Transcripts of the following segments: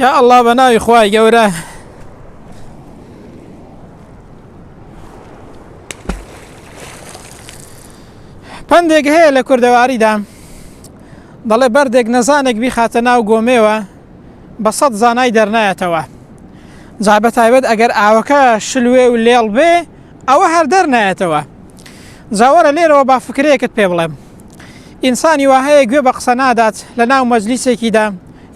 یا ئەڵا بە ناوی خوای گەورە پندێک هەیە لە کوردەواریدا دەڵێ بەردێک نەزانێک بیخاتە ناو گۆمێوە بە سەد زانای دەرنایەتەوە جا بە تایبەت ئەگەر ئاوەکە شلوێ و لێڵ بێ ئەوە هەر دەرنایەتەوە جاوەرە لێرەوە با فکرەیەکت پێ بڵێم ئینسانی وهەیە گوێ بە قسە نادات لە ناو مەجلیسێکیدا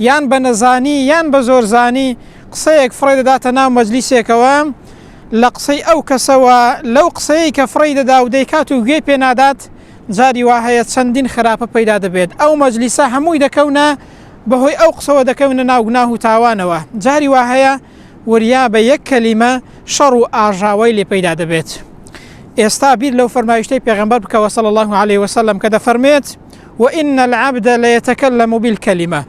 یان بە نەزانی یان بە زۆرزانی قسەیەک فڕێ دەداتە ناو مەجلیسێکەوە، لە قسەی ئەو کەسەوە لەو قسەیەی کە فڕێی دەدا و دەیکات و گوێی پێ نادات، جاری وا هەیە چەندین خراپە پەیدا دەبێت، ئەو مەجلیسە هەمووی دەکەونە بەهۆی ئەو قسەوە دەکەونە ناو گوناه و تاوانەوە، جاری وا هەیە وریا بە یەک کەلیمە شەڕ و ئاژاوەی لێ پەیدا دەبێت. ئێستا بیر لەو فەرمایشتەی پێغەمبەر بکەوە صلی اللە علیە وسلم کە دەفەرموێت، و ان العبد لیتکلم بالکلمە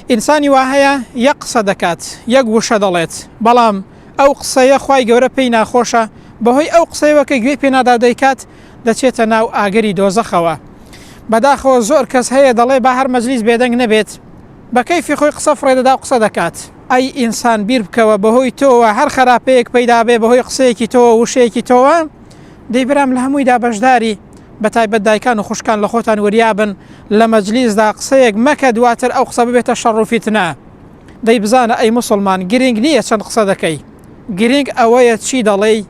ئینسانی وا هەیە یەک قسە دەکات یەک وشە دەڵێت بەڵام ئەو قسەیە خوای گەورە پێی ناخۆشە بەهۆی ئەو قسەیەوە کە گوێی پێنادا دەیکات دەچێتە ناو ئاگری دۆزەخەوە بەداخەوە زۆر کەس هەیە دەڵێ با هەر مەجلیس بێدەنگ نەبێت بە کەیفی خۆی قسە فڕێدەدا و قسە دەکات ئەی ئینسان بیر بکەوە بەهۆی تۆوە هەر خراپەیەک پەیدابێ بەهۆی قسەیەکی تۆوە وشەیەکی تۆوە دەی برام لە هەموویدا بەشداری بە تایبەت دایکان و خوشکان لە خۆتان وریابن لە مەجلیسدا قسەیەک مەکە دواتر ئەو قسە ببێتە شەڕ و فیتنە دەی بزانە ئەی مسلمان گرنگ نییە چەند قسە دەکەی گرنگ ئەوەیە چی دەڵێی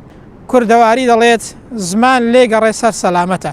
کوردەواری دەڵێت زمان لێگەڕێ سەر سەلامەتە